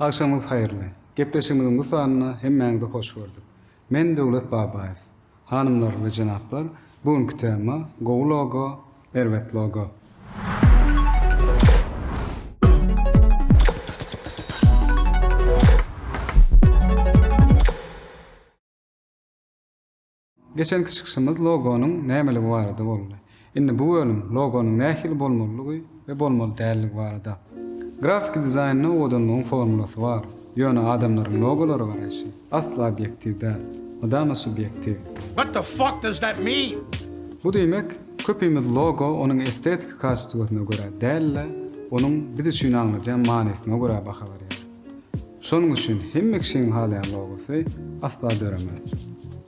Agşamyňyz haýyrly. Gepleşigimiziň bu sanynda hemmäňizi hoş gördük. Men Döwlet Babaýew. Hanymlar we jenaplar, bu günki tema, gowy logo, erbet logo. Geçenki çykyşymyz logonyň nämeligi barada boldy. Indi bu bölüm logonyň nähili bolmalydygy we bolmaly däldigi barada. Grafiki dizaýnda owadanlygyň formulasy bar, ýöne adamlaryň logolara garaýşy asla obýektiw däl, mydama subýektiw. What the fuck does that mean? Bu diýmek, köpimiz logo onuň estetiki kastýuatyna görä däl-de, onuň biz üçin aňladýan manysyna görä baha berýäris. Şonuň üçin hemme kişiniň halaýan logosy asla döremez.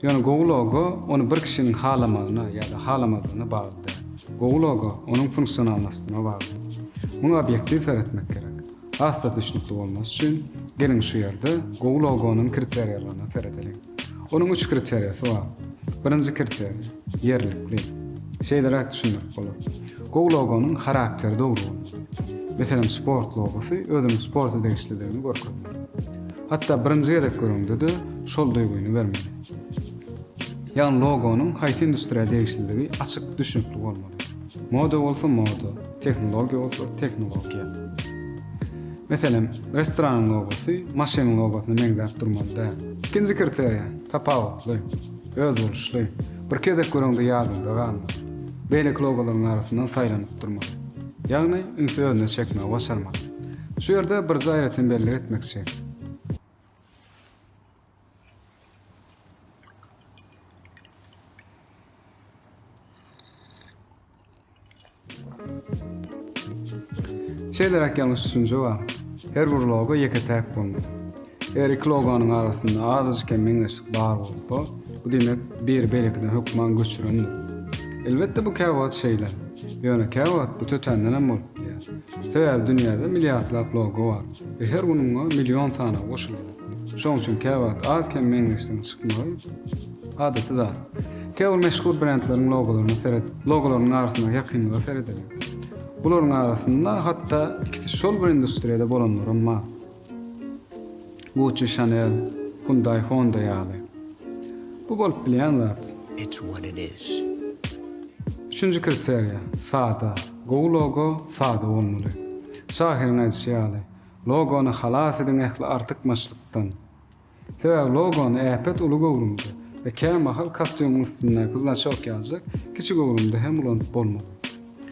Ýöne gowy logo ony bir kişiniň halamagyna ýa-da halamazlygyna bagly däl. Gowy logo onuň funksionalnostyna bagly. Muňa obýektiw seretmek gerek. Has-da düşnükli bolmasy üçin, geliň şu ýerde gowy logonyň kriteriýalaryna seredeliň. Onuň üç kriteriýasy bar. Birinji kriteriýa, ýerlikli. Şeýleräk düşündirip bolar. Gowy logonyň harakteri dogry bolmaly. Meselem, sport logosy özüniň sporta degişliligini görkezmeli. Hatda birinji gezek göreňde-de şol duýgyny bermeli. Ýagny logonyň haýsy industriýa degişliligi açyk, düşnükli bolmaly. Moda bolsa moda, tehnologiýa bolsa tehnologiýa. Meselem, restoranyň logosy maşynyň logosyna meňzäp durmaly däl. Ikinji kriteriýa, tapawutly, özboluşly, bir gezek göreňde ýadyňda galmaly. Beýleki logolaryň arasyndan saýlanyp durmaly. Ýagny, ünsi özüne çekmegi başarmaly. Şu ýerde birje aýratyn bellik etmekçi. Şeýleräk ýalňyş düşünje bar. Her bir logo ýeke-täk bolmaly. Eger iki logonyň arasynda azajyk hem meňzeşlik bar bolsa, bu diýmek biri beýlekiden hökman göçürendir. Elbetde bu käwagt şeýle. Ýöne käwagt bu tötänden hem bolup bilýär. Sebäbi dünýäde milliardlap logo bar we her gün oňa million sany goşulýar. Şoň üçin käwagt az-kem meňzeşligiň çykmagy adaty zat. Käbir meşhur brendleriň logolaryna seret, logolarynyň arasyndaky ýakynlyga seredeliň. Bularyň arasynda hatda ikisi şol bir industriýada bolanlaram bar. Gucci, Chanel, Hyundai, Honda ýaly. Bu bolup bilýän zat. Üçünji kriteriýa, sada. Gowy logo sada bolmaly. Şahyryň aýdyşy ýaly. Logony halas ediň ähli artykmaçlykdan. Sebäbi logony äpet uly göwrümde we kämahal kostýumyň üstündäki znaçok ýaljak kiçi göwrümde hem ulanyp bolmaz.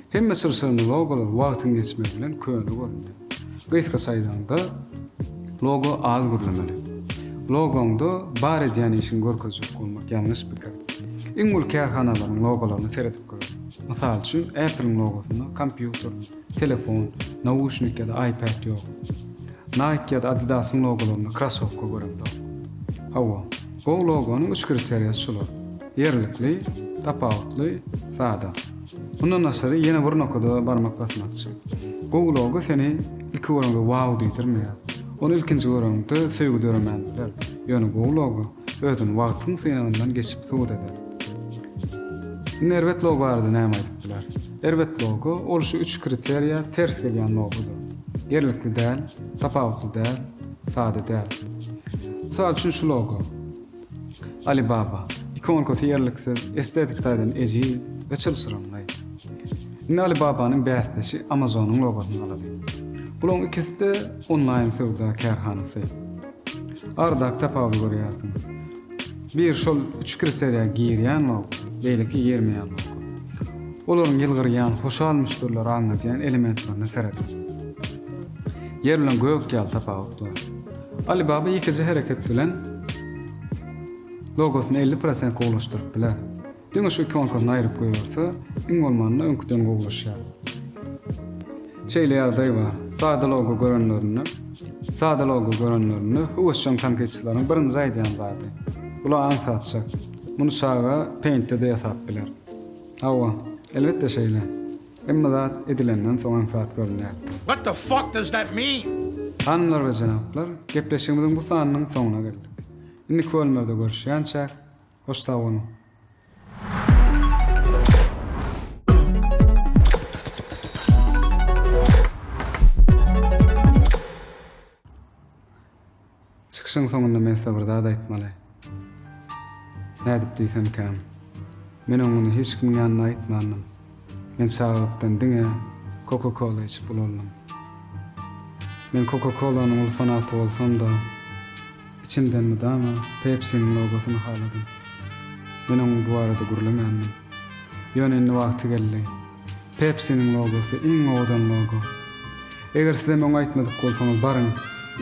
Hemme çylşyrymly logolar wagtyň geçmegi bilen köne göründi. Gysgaça aýdaňda, logo az gürlemeli. Logoňda bar edýän işiňi görkezjek bolmak ýalňyş pikir. Iň uly kärhanalaryň logolaryna seredip gör. Mysal üçin, Apple-iň logosynda kompýuter, Telefon, nauşnik ýa-da iPad ýok. Nike ýa-da Adidas-yň logolarynda krossowka göremzok. Hawa, gowy logonyň üç kriteriýasy şular, ýerlikli, tapawutly, sada. Mundan daşary ýene bir nokada barmak basmakçy. Gowy logo seni ilki görende wow diýdirmeýär. Ony ilkinji göreňde söýgi döremän biler. Ýöne gowy logo özüni wagtyň synagyndan geçip subut eder. Indi erbet logo barada näme aýdyp biler? Erbet logo, ol şu üç kriteriýa ters gelýän logodyr. Ýerlikli däl, tapawutly däl, sada däl. Mysal üçin şu logo. Alibaba. Ikonkasy ýerliksiz, estetik taýdan ejiz we çylşyrymly. Indi Alibabanyň bäsdeşi Amazonyň logosyny alaly. Bularyň ikisi-de onlaýn söwda kärhanasy. Aradaky tapawudy görýärsiňiz. Bir şol üç kriteriýa girýän bok, beýleki girmeýän bok. Olaryň ýylgyrýan, hoşal müşderileri aňladýan elementlerine serediň. Ýer bilen gök ýaly tapawut bar. Alibaba ýekeje hereket bilen logosyny elli prosent gowulaşdyryp biler. Diňe şu iki onsasyny aýryp goýberse, iň bolmanda öňküden gowulaşýar. Şeýle ýagdaý bar. Sada logo görenlerinde, sada logo görenlerinde höwesjeň tankytçylaryň birinji aýdýan zady, Bula aň satjak. Muny çaga Paint-de-de ýasap biler. Hawa, elbetde şeýle. Hemme zat edilenden soň aňsat görünýär. What the fuck does that mean? Hanymlar we jenaplar, gepleşigimiziň bu sanynyň soňuna geldik. Indiki bölümlerde görüşýänçäk! Hoş sag boluň. Çykyşyň soňunda men size bir zat aýtmaly. Nädip diýsemkäm, men oňuny hiç kimiň ýanynda aýtmandym. Men çagalykdan diňe Coca-Cola içip ulandym. Men Coca-Cola-nyň uly fanaty bolsam-da, içimden mydama Pepsi-niň logosyny haladym. Men onuň bu barada gürlemändim. Ýöne indi wagty geldi. Pepsi-niň logosy iň owadan logo. Eger siz hem öň aýtmadyk bolsaňyz, baryň,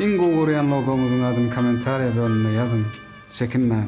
iň gowy görýän logoňyzyň adyny kommentariýa bölümine ýazyň, çekinmäň!